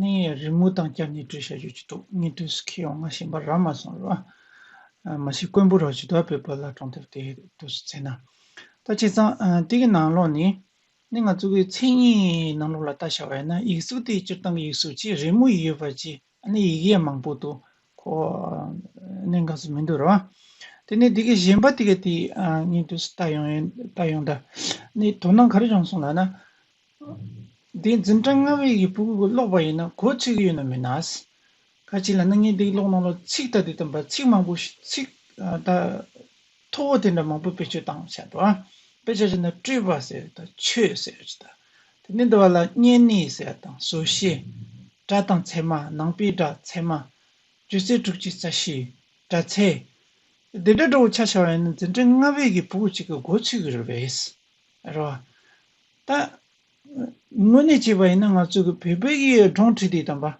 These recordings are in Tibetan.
གནས་ཡས་རི་མོ་དང་བསྐྱར་ཉེར་སྤྲོད་བྱ་རྒྱུ་ཅི་ཐུག་གཉིས་སྟོན་སུ་ཁེལ་ཡོང་ང་ཞེས་འབར་ར་མ་སོང་རོགས་ཨ། མ་གཞི་དཀོན་པོ་རོགས་ཇི་ལྟར་བོད་པ་ལ་གྲོང་དེབ་དེ་བསྡུ་སུ་ཚེ་ན། ལྟ་ཇེ་ཙང་དེ་གི་ནང་ལོགས་ནི། ནི་ང་གཙོ་གི་མཚན་ཉིད་ནང་ལོགས་ལ་ལྟ་བྱ་བས་ན་ཡིག་གཟུགས་དེ་སྤྱིར་བཏང་གི་ཡིག་གཟུགས་ཀྱི་རི་མོ་ཡི་ཡོད་པ་ཅི་ཨ་ནི་ཡིག་ཡས་མང་པོ་དུ་ཁོ་ནི་འགའ་སུ་མི་འདུག་རོགས་ཨ། དེ་ནི་དེ་གི་གཞན་པ་དེ་གི་དེ་གཉིས་སྟོན་སུ་ལྟ་ཡོང་ཡོད་ལྟ་ཡོང་ད། ནི་དོ་སྣང་ག་རེ་བྱུང་སོང་ལ་ན། དེ་འཛིན་གྲྭ་ལྔ་བའི་ཡིག་སྤུག་ཀློག་པ་ཡིན་ན་གོ་ཚིག་གི་ཡོད་ན་མི་ནག། ཁ་ཅིག་ལ་སྣང་བརྙན་འདི་ཀློག་གནང་ལ་ཚིག་དང་དེ་ལྡན་པ་ཚིག་མང་པོ་ཞིག་ཚིག་དང། ཐོ་བོ་དེ་འདྲ་མང་པོ་བེད་སྤྱོད་བཏང་བྱས་པ། དཔེ་ཆ་ཆེ་ན་སྤྲོས་པ་ཟེར་ཡོད་དང་ཆོས་ཟེར་ཡོད་ཅེས་དང། དེ་ནས་འདི་བ་ལ་བསྙད་གནས་ཟེར་བ་དང་བཟོ་བྱའི་སྒྲ་དང་ཚད་མ་ནང་པའི་སྒྲ་ཚད་མ། སྤྱོད་ཚེ་དྲུག་ཅུ་རྩ་བཞིའི་སྒྲ་ཚད། དེ་འདྲ་འགྲོ་བོ་ཆ་ཆེ་བ་ཡིན་ན་འཛིན་གྲྭ་ལྔ་བའི་ཡིག་སྤུག་ཅིག་གི་གོ་ཚིག་རེད་བས། རོགས། ད། དངོས་གནས་བྱས་པ་ཡིན་ན་ང་ཚོ་གི་བོད་པའི་གི་སྒྲོང་ཁྲིད་དེ་དམ་པ།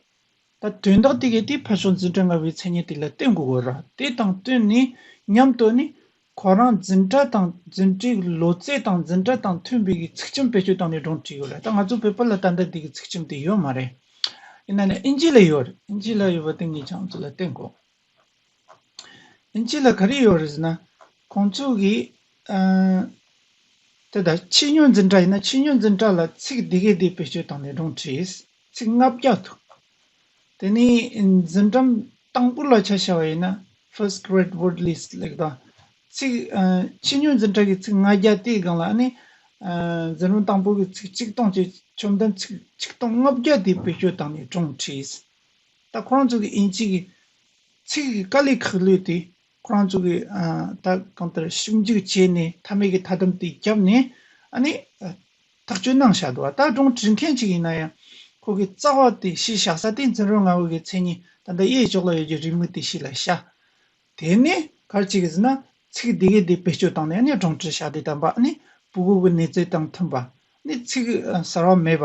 ད་དོན་དག་དེ་གའི་དེ་ཕར་ཕྱོགས་འཛིན་གྲྭ་ང་བའི་མཚན་སྙན་དེ་ལ་བསྟོད་འགོ་དགོས་རོགས་དེ་དང་བསྟུན་ནས་མཉམ་དུ་ནི། ཁོ་རང་འཛིན་གྲྭ་དང་འཛིན་གྲྭའི་གི་ལོ་ཙེ་དང་འཛིན་གྲྭ་དང་མཐུན་པའི་གི་ཚིག་ཁྱིམ་བེད་སྤྱོད་བཏང་ནས་སྒྲོང་ཁྲིད་ཡོད་རེད་ད་ང་ཚོ་བོད་པ་ལ་ད་ལྟ་དེ་གི་ཚིག་ཁྱིམ་དེ་ཡོད་མ་རེད། ཡིན་ན་ནི་ཨིན་ཇི་ལ་ཡོད་རེད་ཨིན་ཇི་ལ་ཡོད་པ་དེ་ངས་ཀྱང་ཚོ་ལ་བསྟོད་འགོ་དགོས། ཅི་ལ་ག་རེ་ཡོད་རེད་ཟེར་ན། ཁོང་ཚོ་གིས། དེ་ལྟར་ཕྱི་སྨྱོན་འཛིན་གྲྭ་ཡིན་ན་ཕྱི་སྨྱོན་འཛིན་གྲྭ་ལ་ཚིག་འདི་གས་འདི་བེད་སྤྱོད་བཏང་ནས་སྒྲུང་བྲིས། ཚིག་ལྔ་བརྒྱ་འདུག། དེ་ནི་འཛིན་གྲྭ་དང་པོ་ལ་ཆ་བྱ་བ་ཡིན་ན First Grade Word List ལེགས་དང། ཚིག། ཕྱི་སྨྱོན་འཛིན་གྲྭ་གི་ཚིག་ལྔ་བརྒྱ་དེའི་སྒང་ལ་ནི། འཛིན་རུང་དང་པོ་གི་ཚིག་གཅིག་སྟོང་བཅས་བཅོམ་ལྡན་ཚིག་ཆིག་སྟོང་ལྔ་བརྒྱ་དེ་བེད་སྤྱོད་བཏང་ནས་སྒྲུང་བྲིས། ད་ཁོ་རང་ཚོ་གི་དབྱིན་ཇི་གི་ཚིག་གི་དཀའ་ལས་ཁག་ལུས་ཏེ་ཁོ་རང་ཚོ་གི་ད་གང་ལྟར་ཞིབ་འཇུག་བྱས་ནས་མཐའ་མའི་གི་མཐའ་དམ་དེ་བརྒྱབ་ནས་ཨ་ནི་ཐག་གཅོད་གནང་བཞག་འདུག་བ་ད་སྒྲུང་བྲིས་མཁན་ཅིག་ཡིན་ན་ཡང་ཁོ་གི་རྩ་བ་དེ་གཞི་བཞག་ས་དེ་འཛིན་རོགས་ང་བོད་གི་མཚན་ཉིད་ད་ལྟ་གཡས་ཕྱོགས་ལ་ཡོད་རྒྱུ་རིས་མོ་དེ་གཞི་ལ་བཞག་དེ་ནས་གར་ཅིག་གིས་ན་ཚིག་དེ་གའི་དེ་བེད་སྤྱོད་བཏང་ནས་ཨ་ནི་སྒྲུང་བྲིས་བཞག་དེ་ད་བ་ཨ་ནི་བུ་གུ་གི་གནས་ཚུལ་དང་མཐུན་པ་ཨ་ནི་ཚིག་གསར་བ་མེད་པ